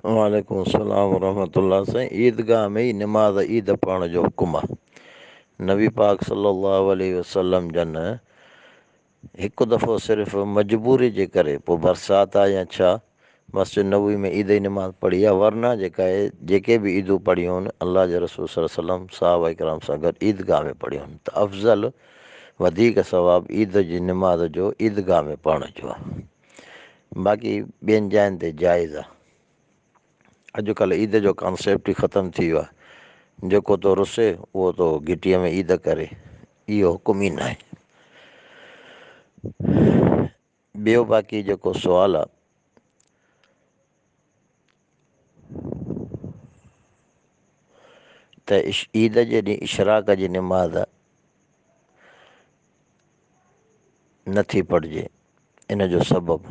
وعليڪم السلام ورحمة الله سائين عيدگاهه ۾ ئي نماز عيد پڙهڻ جو حڪم آ نبي پاڪ صلي الله عليه وسلم جن هڪ دفعو صرف مجبوري جي ڪري پو برسات آ يا ڇا مسجد نبوي ۾ عيد جي نماز پڙهي آ ورنه جيڪا هي جيڪي به عيدون پڙهيون هن الله جي رسول صلي الله عليه وسلم صحابه ڪرام سان گڏ عيدگاهه ۾ پڙهيون هن ته افضل وڌيڪ ثواب عيد جي نماز جو عيدگاهه ۾ پڙهڻ جو آ باقي ٻين جاين تي جائز آ. اڄ ڪلهه عيد جو ڪانسيپٽ ئي ختم ٿي ويو آ جيڪو تو رسي اهو تو گهٽيء ۾ عيد ڪري اهو حڪم ئي ناهي. ٻيو باقي جيڪو سوال آ ته عيد جي ڏينهن اشراق جي نماز نٿي پڙهجي ان جو سبب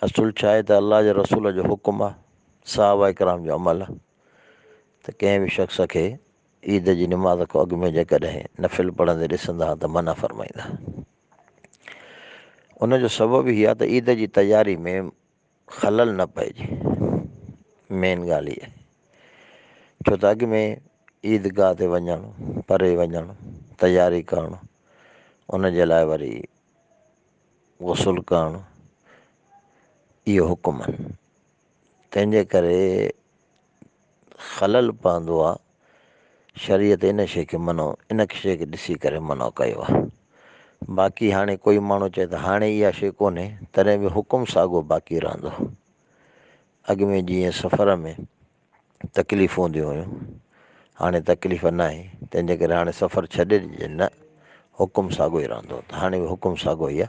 اصل ڇا آهي ته الله جي رسول جو حڪم آهي صحابه اڪرام جو عمل آهي ته ڪنهن به شخص کي عيد جي نماز کان اڳ ۾ جيڪڏهن نفل پڙهندي ڏسندا ته منع فرمائيندا ان جو سبب هي آ ته عيد جي تياري ۾ خلل نه پئجي مين ڳالهه اها ڇو ته اڳ ۾ عيد گاهه تي وڃڻ پري وڃڻ تياري ڪرڻ ان جي لاء وري غسل ڪرڻ اهو حڪم آهن تنهنجي ڪري خلل پوندو آ، شريعت ان شيء کي منع ان شيء کي ڏسي ڪري منع ڪيو آ، باقي هاڻي ڪوئي ماڻهو چئي ته هاڻي اها شيء ڪونهي تڏهن به حڪم ساڳو باقي رهندو، اڳ ۾ جيئن سفر ۾ تڪليفون هونديون هيون هاڻي تڪليف ناهي تنهنجي ڪري هاڻي سفر ڇڏي ڏجي نه حڪم ساڳو ئي رهندو ته هاڻي به حڪم ساڳو ئي آ.